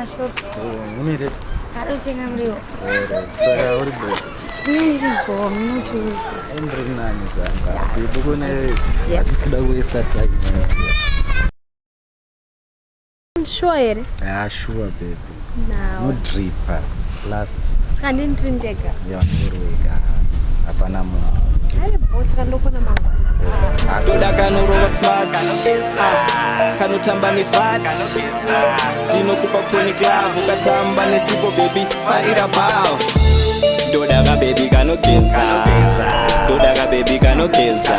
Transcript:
mashops unite arutenga muriwo saka uri break ndiriko munotiuza ndiri nani zvanga ndibukune hatisikuda kuwesta time shuwa here ha shuwa baby nodripa last saka ndini tiri ndega hapana munhu toda kanorova smart ah, kanotamba nefat ndinokupa chronic love ukatamba nesipo bebi farira bao ndoda kabebi kanogeza ndoda kabebi kanogeza